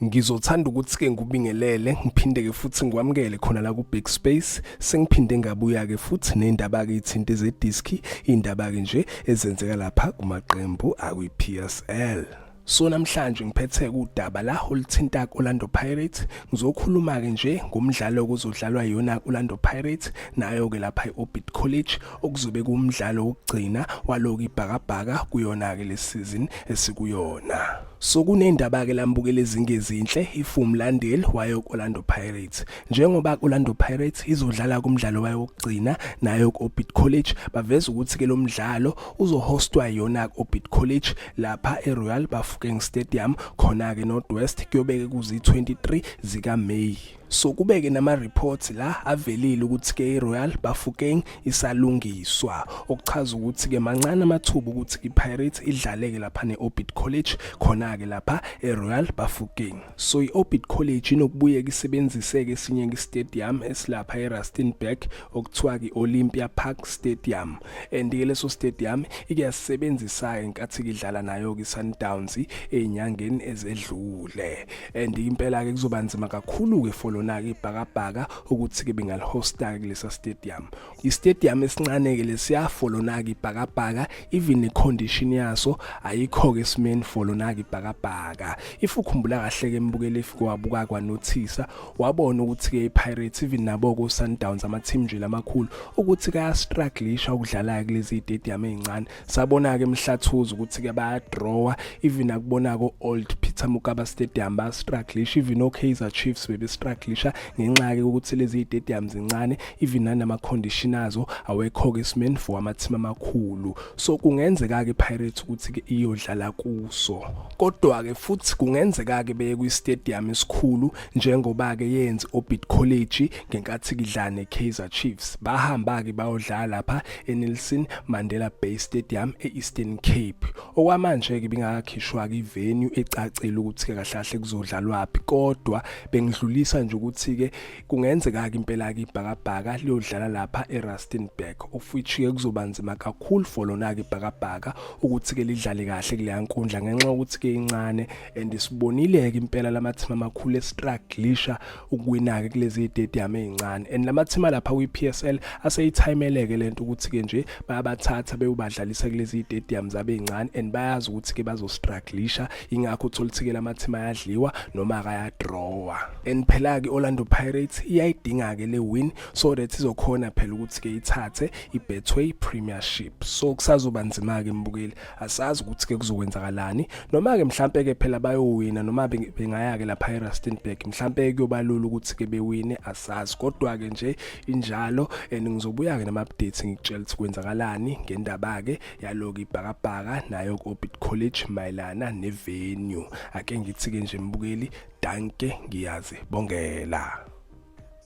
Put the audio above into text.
Ngizothanda ukuthi-ke ngubingelele ngiphinde-ke futhi ngikwamukele khona la ku-big space sengiphinde ngabuya-ke futhi nendaba-ke ithinte zediski iy'ndaba-ke nje ezenzeka lapha kumaqembu akwi-p s l so namhlanje ngiphethe udaba la oluthinta Orlando Pirates ngizokhuluma ke nje ngomdlalo okuzodlalwa yona Orlando Pirates nayo ke lapha eOrbit College okuzobe kumdlalo wokugcina waloku ibhakabhaka kuyona ke lesizini esikuyona So kunendaba-ke lambukela ezingezinhle iFum Landale wayo ku-Orlando Pirates. Njengoba ku-Orlando Pirates izodlala kumdlalo wayo wokugcina nayo ku-Orbit College, baveza ukuthi-ke lo mdlalo uzohostwa yona ku-Orbit College lapha e-Royal Bafokeng Stadium khona-ke North West kuyobeke kuzi-23 zikaMeyi. so kubeke nama reports la avelile ukuthi ke iRoyal Bafokeng isalungiswa okuchaza ukuthi ke mancane amathuba ukuthi iPirates idlaleke lapha neOrbit College khona ke lapha eRoyal Bafokeng so iOrbit College inokubuyeka isebenziseke esinye istadium esilapha eRustenburg okuthiwa iOlympia Park Stadium and ke leso stadium ikuyasebenzisa enkathi kidlala nayo ke Sundowns ezinyangeni ezedlule and impela ke kuzoba nzima kakhulu ke for lona ke ibhakabhaka ukuthi ke bengalihosta ke kulesa stadium i stadium esincane ke lesiya for lona ke ibhakabhaka even i condition yaso ayikho ke simeni for lona ke ibhakabhaka if ukhumbula kahle ke mbukele if kwabuka kwanothisa wabona ukuthi ke iPirates even nabo ku Sundowns ama team nje lamakhulu ukuthi ka strugglisha ukudlala kulezi stadium ezincane sabona-ke mhlathuza ukuthi-ke bayadrawa even akubonako old peter mukaba stadium bastruglisha even okaizer chiefs bebestruglisha ngenxa-ke ukuthi lezi stadium zincane even nanama-condition azo awekho-ke esimeni for amathimu amakhulu so kungenzeka-ke ipirates ukuthi-ke iyodlala kuso kodwa-ke futhi kungenzeka-ke beye kwi-stadium esikhulu njengoba-ke yenze obit college ngenkathi kidlane kaizer chiefs bahamba-ke bayodlala lapha eNelson Mandela Bay Stadium e-Eastern Cape. Okwamanje-ke bingakakhishwa-ke ivenue ecacile ukuthi-ke kahle kahle kuzodlalwaphi kodwa bengidlulisa nje ukuthi-ke kungenzeka-ke impela-ke ibhakabhaka liyodlala lapha eRustenburg of which-ke kuzoba nzima kakhulu for lona-ke ibhakabhaka ukuthi-ke lidlale kahle kuleya nkundla ngenxa yokuthi-ke incane and sibonile-ke impela lamathimba amakhulu estraglisha ukuwina-ke kulezi tediyamu ey'ncane and lamathima lapha kwi-PSL aseyithayimeleke le nto ukuthi-ke nje bayabathatha bewubadlalisa kulezi tediyamu zabo ey'ncane and bayazi ukuthi-ke bazostraglisha yingakho uthola ukuthi-ke lamathima ayadliwa noma akayadrawa and phela-ke i-orlando pirates iyayidinga-ke le win so that izokhona phela ukuthi-ke ithathe i-betway premiership so kusazoba nzima-ke mbukeli asazi ukuthi ke kuzokwenzakalani noma ke mhlambe ke phela bayowina noma bengaya ke lapha eRustenburg mhlambe kuyobalula ukuthi ke bewine asazi kodwa ke nje injalo and ngizobuya ke nama updates ngikutshela ukuthi kwenzakalani ngendaba ke yaloku ibhakabhaka nayo ku Orbit College mayelana ne venue ake ngithi ke nje mbukeli danke ngiyazi bongela